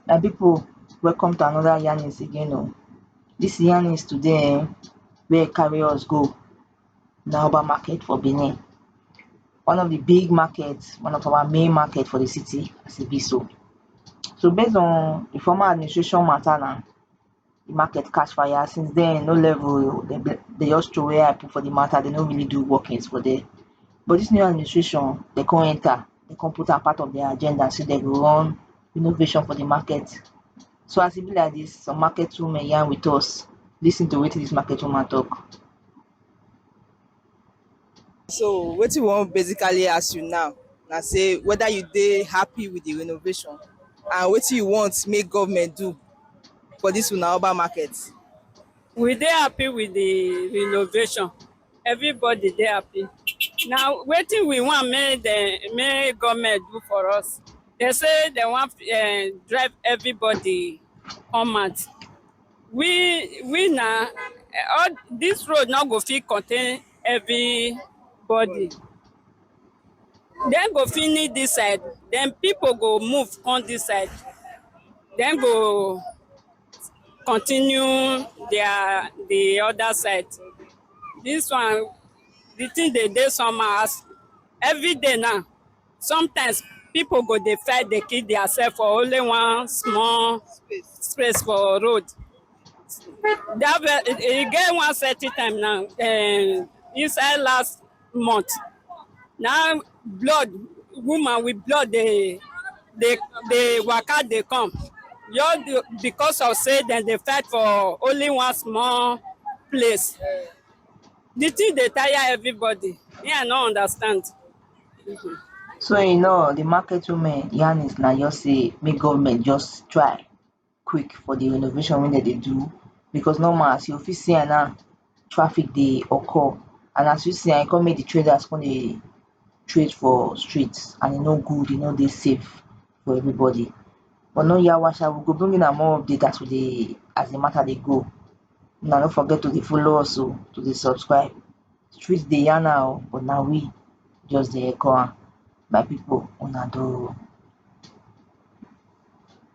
my people welcome to another yarnings again o this yarnings today um wey carry us go na oba market for benin one of di big market one of our main market for di city as e be so so base on di former administration matter na di market catch fire since den e no level oh dem dey just throw away eye put for di matter dem no really do workings for dere but dis new administration dem come enter dem come put am part of dere agenda sey dem go run renovation for di market so as e be like dis some market women yarn with us lis ten to wetin dis market woman talk So wetin we wan basically ask you now na say whether you dey happy with the renovation and wetin you want make government do for this una urban market. We dey happy with the renovation. Everybody dey happy. Na wetin we want make dem make government do for us. Dem say dem wan um drive everybody come out. we we na all this road no go fit contain everybody dem go finish this side then people go move come this side dem go continue their the other side this one the thing dey dey somehow as every day now Sometimes people go dey fight dey kill theirself for only one small space for road. That ve- e get one certain time now um, inside last month. Now blood woman with blood dey dey dey waka dey come. Just be- because of say dem dey fight for only one small place. The thing dey tire everybody. Me I no understand. So in all di market women yarn is na just sey make government just try quick for di renovation wey dem dey do becos normal as you go fit see am now traffic dey occur and as you see am e come make di traders come dey trade for street and e no good e no dey safe for everybody but no yawa sha we go bring una more update as we dey as di mata dey go una no forget to dey follow us oh to dey subscribe Street dey yarn her oh but na we just dey echo am my people una do oh.